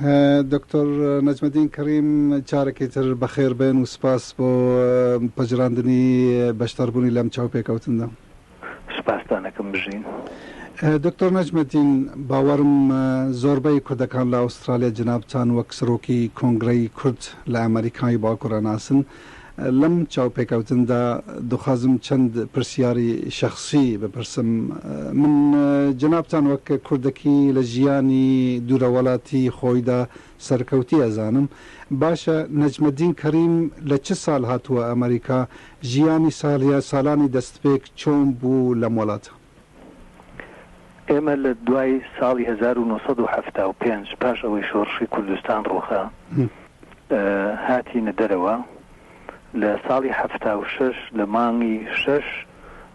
دکتۆر نەجمەدین کڕیم چارەکی تر بەخێر بێن و سپاس بۆ پەجراندنی بەشداربوونی لەم چاو پێکەوتندا سپاستانەکەم بژین. دکتۆر نەجمەدین باوەرم زۆربەی کوردەکان لە ئوسترالیا جنابتان وەک سرۆکی کۆنگرەی کورد لە ئەمەریکای باکورە ناسن، لەم چاوپێکەوتندا دخوازم چەند پرسیاری شەخسی بپرسم، من جەنابتان وەک کوردەکی لە ژیانی دوورە وەلاتی خۆیدا سەرکەوتی ئەزانم، باشە نەجمەدین کەریم لە چ سال هاتووە ئەمەریکا، ژیانی سالیان سالانی دەستپێک چۆن بوو لەم وەلاتە؟ ئێمە لە دوای ساڵی هەزار و نۆ سەد و حەفتا و پێنج پاش ئەوەی شۆڕشی کوردستان ڕووخا هاتینە دەرەوە، لە ساڵی حەفتا و شەش لە مانگی شەش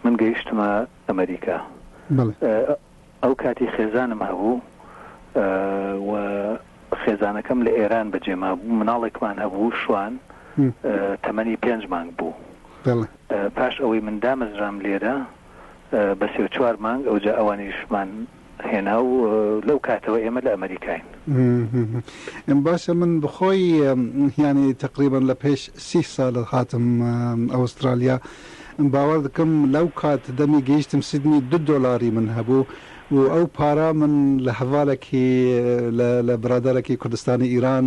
من گەیشتمە ئەمەریکا. ئەو کاتی خێزانم هەبوو و خێزانەکەم لە ئێران بەجێ مابوو، مناڵێکمان هەبوو شوان تەمەنی پێنج مانگ بوو. پاش ئەوەی من دامەزرام لێرە، بە سێ و چوار مانگ ئەوجا ئەوانیشمان هێنا و لەو کاتەوە ئێمە لە ئەمەریکاین. باشە من بەخۆی یانی تەقریبەن لە پێش سی سالە هاتم ئەوسترالیا باوەڕ دکم لەو کات دەمی گەیشتم سیدنی دو دۆلاری من هەبوو و ئەو پارە من لە هەڤالەکی لە برادەرەکی کوردستانی ئیران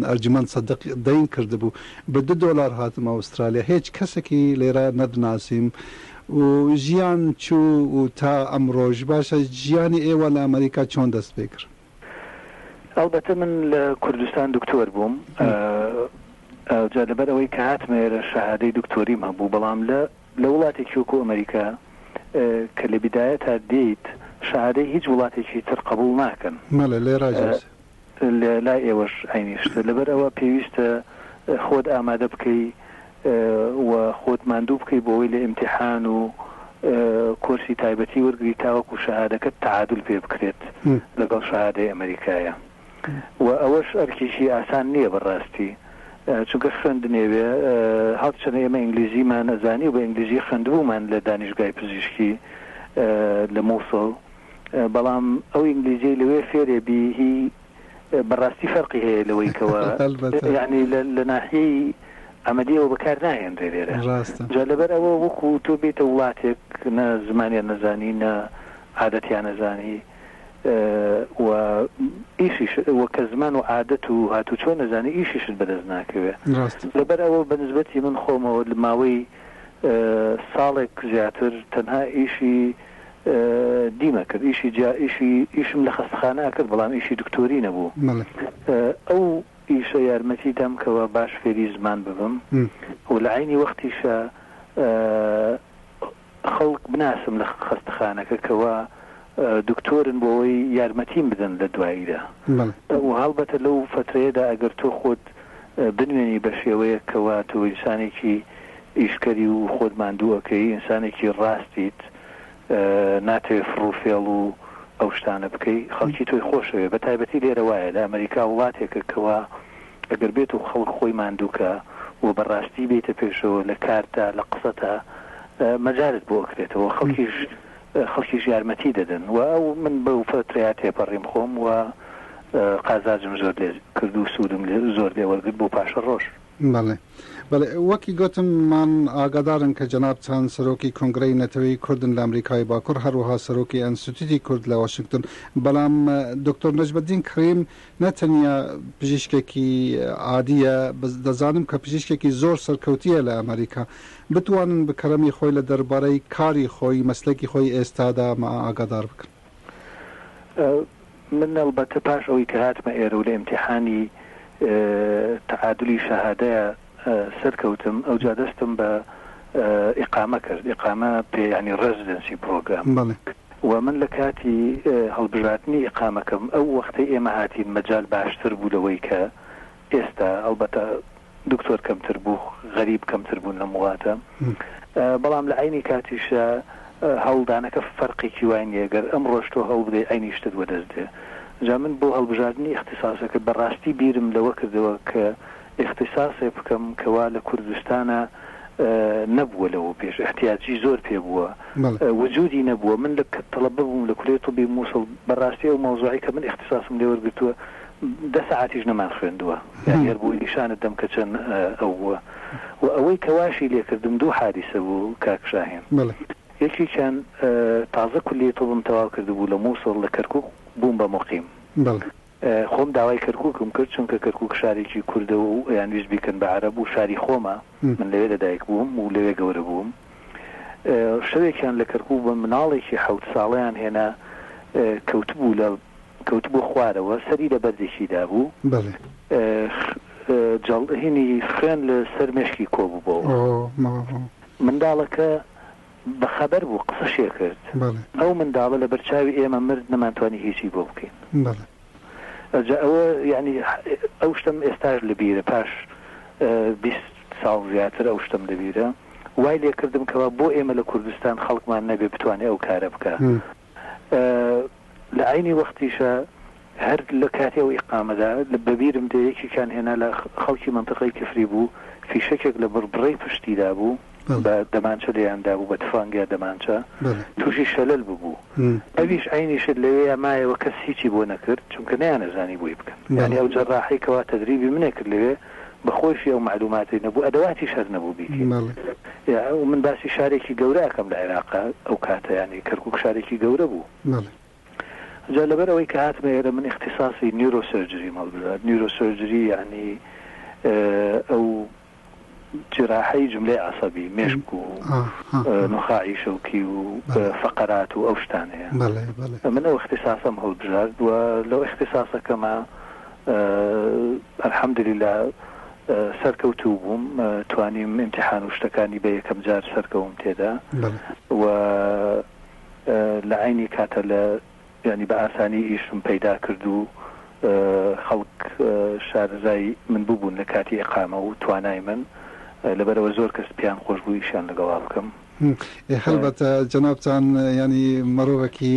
ئەرجومەند سەدق دەین کردبوو بە دە دۆلار هاتم ئەوسترالیا هێچ کەسەکی لێرە نەدناسیم و ژیان چوو و تا ئەمڕۆش باشە ژیانی ئێوە لە ئەمەریکا چۆن دەست پێ کرد؟ ئەڵبەتە من لە کوردستان دکتۆر بووم ئەوجا لەبەر ئەوەی کە هاتمە ئێرە شەهادەی دکتۆریم هەبوو بەڵام لە لە وڵاتێکی وەکو ئەمەریکا کە لە بیدایە تا دێیت شەهادەی هیچ وڵاتێکی تر قبول ناکەن مەڵێ لێ ڕاجێ لە لای ئێوەش عەینی شتە، لەبەر ئەوە پێویستە خۆت ئامادە بکەی و خۆت ماندوو بکەی بۆ ئەوەی لە ئیمتیحان و کۆرسی تایبەتی وەرگری تاوەکو شەهادەکەت تەعادول پێ بکرێت لەگەڵ شەهادەی ئەمەریکایە و ئەوەش ئەرکێکی ئاسان نییە بە ڕاستی چونکە خوێندنێوێ هەڕچەنە ئێمە ئینگلیزیمان ئەزانی و بە ئینگلیزی خوێندبوومان لە دانیشگای پزیشکی لە موسڵ بەڵام ئەو ئینگلیزیەی لەوێ فێرێ بی هی بەڕاستی فەرقی هەیە لەوەی کەوە یعنی لە ناحیەی ئەمەدیەوە بەکار ناهێنرێ لێرە جا لەبەر ئەوە وەکو تۆ بێتە وڵاتێک نە زمانیان نەزانی نە عادەتیان نەزانی و ئیشیش وە کە زمان و عادەت و هاتو چۆن نەزانی ئیشیشت بەدەست ناکەوێ لەبەر ئەوە بەنسبەتی من خۆمەوە لە ماوەی ساڵێک زیاتر تەنها ئیشی دیم ئەکرد ئیشی جا ئیشی ئیشم لە خەستەخانە ئەکرد بەڵام ئیشی دکتۆری نەبوو ئەو ئیشە یارمەتی دام کەوا باش فێری زمان ببم و لە عەینی وەختیشا خەڵک بناسم لە خەستەخانەکە کەوا دکتۆرن بۆوەی یارمەتیم بدەن لە دواییدا و هەڵبەتە لەو فەترەیەدا ئەگەر تۆ خۆت بنوێنی بە شێوەیەک کەوا تۆ ئینسانێکی ئیشکەری و خۆت ماندوو ئەکەی ئینسانێکی ڕاستیت ناتەوێ فڕو فێڵ و ئەو شتانە بکەی خەڵکی تۆی خۆشەوێ بە تایبەتی لێرە وایە لە ئەمەریکا وڵاتێکە کەوا ئەگەر بێت و خەڵک خۆی ماندووکە و بە ڕاستی بێتە پێشەوە لە کارتا لە قسەتا مەجالت بۆ ئەکرێتەوە خەڵکیش خەڵکیش یارمەتی دەدەن و ئەو من بەو فترەیە تێپەڕیم خۆم و قازاجم زۆر لێ کردو سوودم لێ زۆر لێ وەرگرت بۆ پاشە ڕۆژ. بەڵێ. بەڵێ، وەکی گۆتم مان ئاگادارن کە جەنابتان سەرۆکی کۆنگرەی نەتەوەی کوردن لە ئەمریکای باکوڕ هەروەها سەرۆکی ئەنستتیوتی کورد لە واشنگتن، بەڵام دکتۆر نەجمەدین کڕیم نە تەنیا پزیشکێکی عادییە، دەزانم کە پزیشکێکی زۆر سەرکەوتییە لە ئەمریکا. بتوانن بە کەرەمی خۆی لە دەربارەی کاری خۆی، مەسلەکی خۆی ئێستادا ماا ئاگادار بکەن. من ئەڵبەتە پاش ئەوەی کە هاتمە ئێرە و لە ئیمتیحانی تەعادولی شەهادەیا سەرکەوتم ئەوجا دەستم بە ئیقامە کرد، ئیقامە پێ یانی ڕێزیدێنسی پڕۆگرام. بەڵێ. و من لە کاتی هەڵبژاردنی ئیقامەکەم ئەو وەختەی ئێمە هاتین مەجال باشتر بوو لەوەی کە ئێستا ئەڵبەتە دکتۆر کەمتر بوو، غەریب کەمتر بوون لەم وڵاتە، بەڵام لە عەینی کاتیشدا هەوڵدانەکە فەرقێکی وای نییە، گەر ئەمڕۆش تۆ هەوڵبدەی عەینی شتت وەدەست دێ. جا من بۆ هەڵبژاردنی ئیختیساسەکە بە ڕاستی بیرم لەوە کردەوە کە ئیختیساسێ بکەم کە وا لە کوردستانا نەبووە لەوە پێش، ئیحتیاجی زۆر پێ بووە، وجودی نەبووە. من لە کە تەڵەبە بووم لە کولێی طبی موسڵ بە ڕاستی ئەو مەوزوعەی کە من ئیختیساسم لێ وەرگرتووە، دە سەعاتیش نەمان خوێندووە یانی هەر بۆی نیشانت دەم کە چەن ئەو بووە و ئەوەی کە واشی لێکردم دوو حادیسە بوو کاک شاهین یەکێکیان تازە کولیەی طوبم تەواو کردبوو لە موسڵ لە کەرکوک بووم بە موقیم خۆم داوای کەرکوکم کرد چونکە کەرکوک شارێکی کوردە و یان ویست بیکەن بە عەرەب و شاری خۆمە من لەوێ لە دایک بووم و لەوێ گەورە بووم شەوێکیان لە کەرکوک بە مناڵێکی حەوت ساڵیان هێنا کەوتبوو لە کەوتبوو خوارەوە سەری لە بەردێکی دابوو بەڵێ جەڵ هینی خوێن لە سەر مێشکی کۆببۆوە ئۆ ماڵ هۆ. منداڵەکە بە خەبەر بوو قسەشێ کرد بەڵێ ئەو منداڵە لە بەرچاوی ئێمە مرد نەمان توانی هیچی بۆ بکەین بەڵێ. ئەجا ئەوە یەعنی ئەو شتەم ئێستاش لە بیرە پاش بیست ساڵ زیاتر ئەو شتەم لە بیرە وای لێ کردم کەوا بۆ ئێمە لە کوردستان خەڵکمان نەبێ بتوانێ ئەو کارە بکا. لە عەینی وەختیشا هەر لە کاتی ئەو ئیقامەدا بە بیرم دێ یەکێکیان هێنا لە خەڵکی مەنتقەی کفری بوو فیشەکێک لە بڕبڕەی پشتی دابوو بە دەمانچە لێیان دابوو بە تفەنگ یا دەمانچە تووشی شەلەل ببوو ئەویش عەینی شت لەوێیا مایەوە کەس هیچی بۆ نەکرد چونکە نەیانەزانی بۆی بکەن یانی ئەو جەراحەی کەوا تەدریبی منێ کرد لەوێ بە خۆیشی ئەو مەعلوماتەی نەبوو ئەدەواتیش هەر نەبوو بیکەی ئێ من باسی شارێکی گەورە ئەکەم لە عێراقا ئەو کاتە یانی کەرکوک شارێکی گەورە بوو جا لەبەر ئەوەی کە هاتمە ئێرە من ئیختیساسی نیورۆسرجریمە هەڵبژارد نیورۆسرجری یانی ئەو جراحەی جملەی عەسەبی مێشک و نخاعی شەوکی و فەقەرات و ئەو شتانەیە من ئەو ئیختیساسەم هەڵبژارد و لەو ئیختیساسەکەما الحمدللە سەرکەوتوو بووم توانیم ئیمتیحان و شتەکانی بە یەکەم جار سەرکەوم تێدا و لە عینی کاتە لە ینی بە ئاسانی ئیشم پەیدا کرد و خەڵک شارەزای من ببوون لە کاتی ئقامە و توانای من لەبەرەوە زۆر کەس پێیان خۆش بوو ئیشیان لەگەڵا بکەم. هەڵبەتە جەنابتان ینی مەڕۆڤەکی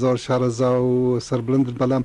زۆر شارەزا و سەربلندن بەلام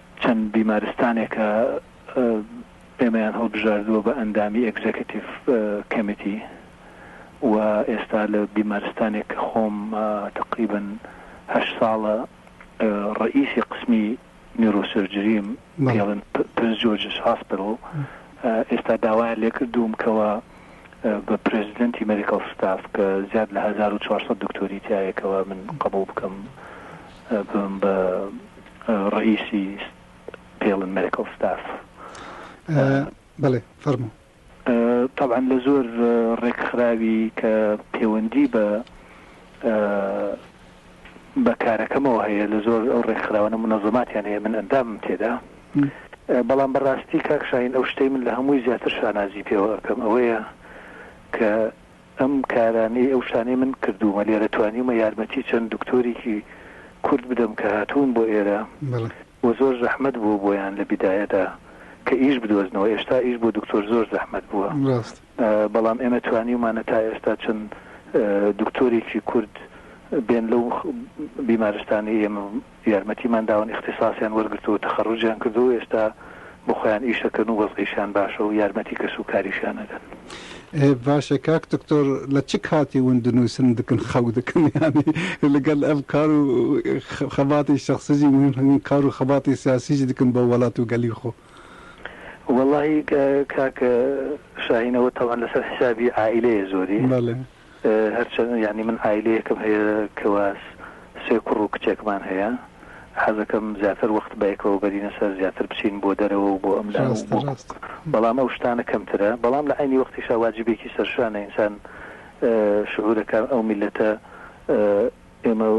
چەند بیمارستانێکە ئێمەیان هەڵبژاردووە بە ئەندامی ئێگزێکتیڤ کەمیتی و ئێستا لە بیمارستانێک کە خۆم تەقریبەن هەشت ساڵە ڕەئیسی قسمی نیورۆسرجریم پێڵن پرنس جۆرجس هاسپیتاڵ ئێستا داوایان لێکردووم کەوە بە پرێزیدنتی مێدیکاڵ ستاف کە زیاد لە هەزار و چوار سەد دکتۆری تیایەکەوە من قبوڵ بکەم بم بە ڕەئیسی ستێلن مێدیکەڵ ستاف. بەڵێ فەرموو. تەبعەن لە زۆر ڕێکخراوی کە پێوەندی بە بە کارەکەمەوە هەیە لە زۆر ئەو ڕێکخراوانە منەزەماتیان هەیە من ئەندامم تێدا بەڵام بەڕاستی کاکشاین ئەو شتەی من لە هەمووی زیاتر شانازی پێوە ئەەکەم ئەوەیە کە ئەم کارانەی ئەو شانەی من کردوومە لێرە توانیومە یارمەتی چەند دکتۆرێکی کورد بدەم کە هاتوون بۆ ئێرە و زۆر زەحمەت بووە بۆیان لە بیدایەدا کە ئیش بدۆزنەوە ئێشتا ئیش بۆ دکتۆر زۆر زەحمەت بووە بەڵام ئێمە توانیومانە تا ئێستا چەند دکتۆرێکی کورد بێن لەو بیمارستانەی ئێمە یارمەتیمان داون ئیختیساسیان وەرگرتووە تەخەڕوجیان کردووە و ئێستا بۆ خۆیان ئیشەکەن و وەزعیشیان باشە و یارمەتی کەس و کاریشیان ئەدەن. باشە کاک دکتۆر لە چ کاتی ون دنوسن دکن خەو دکن یانی لگەل ئەم کار و خەباتی شەخسیجی مهم هەن کار و خەباتی سیاسیجی دکن بۆ وەلات و گەلی خۆ؟ وەڵاهی کاک شاهین ئەوە تەبعەن لەسەر حیسابی عائیلەیە زۆری بەلێ. هەرچەند یانی من عایلەیەکم هەیە کوا سێ کوڕ و کچێکمان هەیە حەزەکەم زیاتر وەخت بەیەکەوە بەرینە سەر زیاتر بچین بۆ دەرەوە و بۆ ئەم لا و بۆ بەڵام ئەو شتانە کەمترە بەڵام لە عەینی وەختیشا واجیبێکی سەرشانە ئینسان شعورەکە ئەو میلەتە ئێمە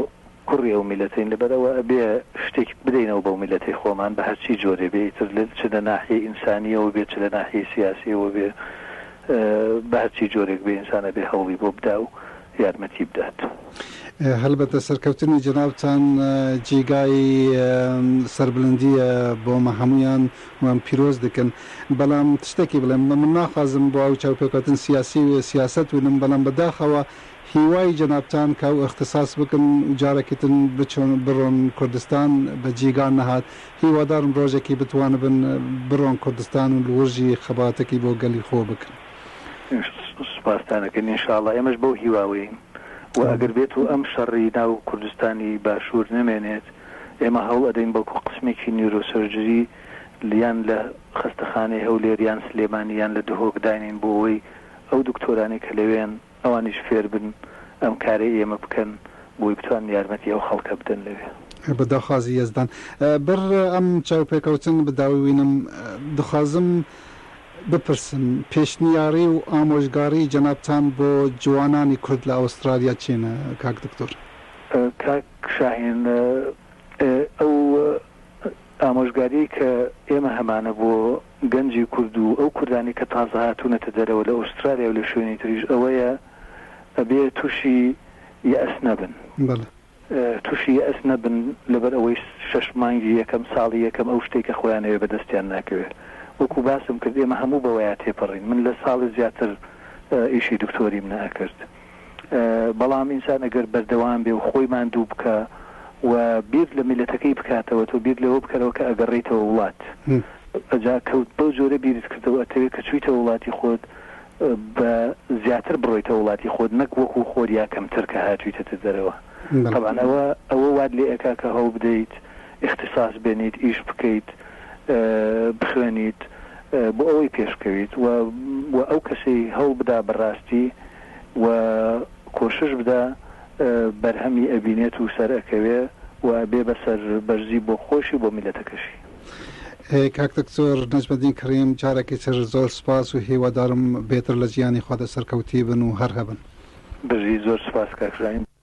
کوڕی ئەو میللەتەین لەبەر ئەوە ئەبێ شتێک بدەینەوە بەو میللەتەی خۆمان بە هەرچی جۆرێ بێ ئیتر چ لە ناحیەی ئینسانییەوە بێ چ لە ناحیەی سیاسییەوە بێ بە هەرچی جۆرێک بێ ئینسان ئەبێ هەوڵی بۆ بدا و یارمەتی بدات. هەلبەتە سەرکەوتنی جەنابتان جێگای سەربلندییە بۆمە هەموویان وام پیرۆز دەکەن بەڵام شتێکی بڵێم من ناخوازم بۆ ئەو چاوپێکەوتن سیاسی و سیاسەت ونم بەڵام بەداخەوە هیوای جەنابتان کە ئەو ئیختساس بکن و جارەکی تن بچون بڕۆن کوردستان بە جیگان نەهات هیوادارم ڕۆژەکی بتوانبن بڕۆن کوردستان و لوڕژی خەباتەکی بۆ گەلی خۆ بکن. سوپاستان ئەکەین ان شاء اللە ئێمەش بەو هیواوەین و ئەگەر بێت و ئەم شەڕی ناو کوردستانی باشوور نەمێنێت ئێمە هەوڵ ئەدەین بەڵکو قسمێکی نیورۆسۆرجری یان لە خەستەخانەی هەولێر یان سلێمانی یان لە دهۆک داینێین بۆ ئەوەی ئەو دکتۆرانەی کە لەوێن ئەوانیش فێربن ئەم کارەی ئێمە بکەن بۆی بتوانن یارمەتی ئەو خەڵکە بدەن لەوێ. بە داخوازی یەزدان بەر ئەم چاوپێکەوتن بداووینم دخوازم بپرسم پێشنیاری و ئامۆژگاری جەنابتان بۆ جوانانی کورد لە ئەوسترالیا چین کاک دکتۆر؟ کاک شاهین ئەو ئامۆژگاریی کە ئێمە هەمانە بۆ گەنجی کورد و ئەو کوردانەی کە تازە هاتوونەتە دەرەوە لە ئوسترالیا و لە شوێنی تریش ئەوەیە ئەبێ تووشی یەئس نەبن. بەڵێ. تووشی یەئس نەبن لەبەر ئەوەی شەش مانگی یەکەم، ساڵی یەکەم ئەو شتەی کە خۆیان ئەوێ بە دەستیان ناکەوێ. وەکوو باسم کرد ئێمە هەموو بەوەیا تێپەڕین. من لە ساڵێ زیاتر ئیشی دکتۆریم نەئەکرد. بەڵام ئینسان ئەگەر بەردەوام بێ و خۆی ماندوو بکا و بیر لە میلەتەکەی بکاتەوە تۆ بیر لەوە بکەرەوە کە ئەگەڕێیتەوە وڵات ئەجا کەوت بەو جۆرە بیرت کردەوە ئەتەوێ کە چویتە وڵاتی خۆت بە زیاتر بڕۆیتە وڵاتی خۆت نەک وەکو خۆت یا کەمتر کە هاتویتەتە دەرەوە تەبعەن ئەوە ئەوە وات لێ ئەکا کە هەوڵ بدەیت ئیختیساس بێنیت ئیش بکەیت بخوێنیت بۆ ئەوەی پێشکەویت وە وە ئەو کەسەی هەوڵ بدا بە ڕاستی وە کۆشش بدا بەرهەمی ئەبینێت و سەر ئەکەوێ و ئەبێ بە سەر بەرزی بۆ خۆشی و بۆ میلەتەکەشی. کاک دکتۆر نەجمەدین کەریم جارێکی تر زۆر سوپاس و هیوادارم بێتر لە جیانی خۆدا سەرکەوتی بن و هەر هەبن. بژیت زۆر سوپاس کاک ژاین.